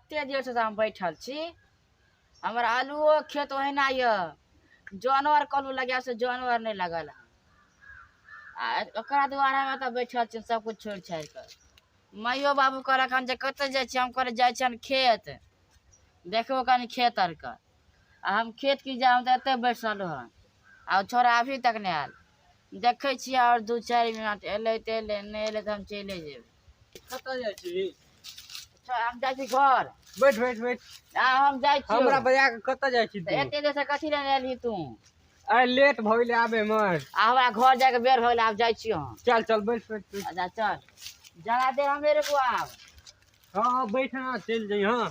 एते देर से हम बैठल छी हमर आलूओ खेत ओहिना यऽ जानवर कलू लगा से जानवर नहि लगल हँ आ ओकरा दुआरे हम एतऽ बैठल छी सब कुछ छोड़ि छाड़ि कऽ माइयो बाबू कहलक हन जे कतऽ जाइ छी हम कहलियै जाइ छी हन खेत देखबो कनि खेत आर कऽ आ हम खेत की जायब हम तऽ एतऽ बैठल हन आ ओ छोड़ा अभी तक नहि आयल देखै छियै आओर दू चारि मिनट एलै तऽ एलै नहि एलै तऽ हम चलि जेबै कतऽ जाइ छी अच्छा हम जाइ छी घर बैठ बैठ बैठ आ हम जाइ छी हमरा बजा के कतऽ जाइ छी तू एते देर से कथी लेने एलही तू अरे लेट भऽ गेलै आबे मे आ हमरा घर जाय के बेर भऽ गेलै आब जाइ छी हम चल चल बैठ बैठ बैठ। अच्छा चल जरा दे हमेरे को आब हाँ हाँ बैठ ना चल जाइ हाँ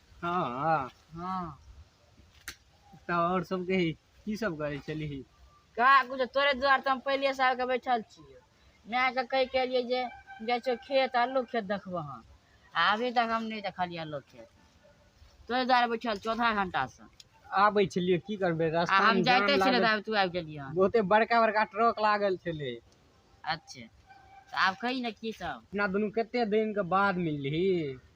हँ हँ तऽ आओर सब कही की सब करै छलिही का कुछ तोरे दुआर तऽ हम पहिले से आके बैठल छियै माय के कहि के एलियै जे जाइ छियौ खेत आलू खेत देखबो हम आ अभी तक हम नहि देखलियै आलू खेत तोरे दुआरे बैठल छियौ आधा घंटा से आबै छलियै की करबै आ रास्ता हम जाइते छलियै तऽ आब तू आबि गेलियै हन बहुते बड़का बड़का ट्रक लागल छलै अच्छे तऽ आब कही ने की सब अपना दुनू कते दिन के बाद मिलही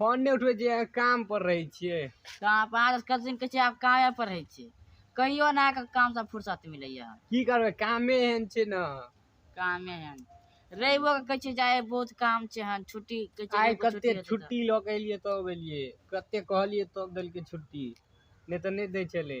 फोन नहि उठबै छियै काम पर रहै छियै तऽ अहाँ पाँच कथिन कहै छियै आब कामे पर रहै छियै कहियो ने अहाँके कामसँ फुर्सत मिलैया की करबै कामे एहन छै ने कामे एहन रविओ के कहै छियै जाय बहुत काम छै हन छुट्टी कहै छियै आइ रविओ के कते हेतै तऽ। छुट्टी लऽ के एलियै तब एलियै कते कहलियै तब देलकै छुट्टी नहि तऽ नहि दै छलै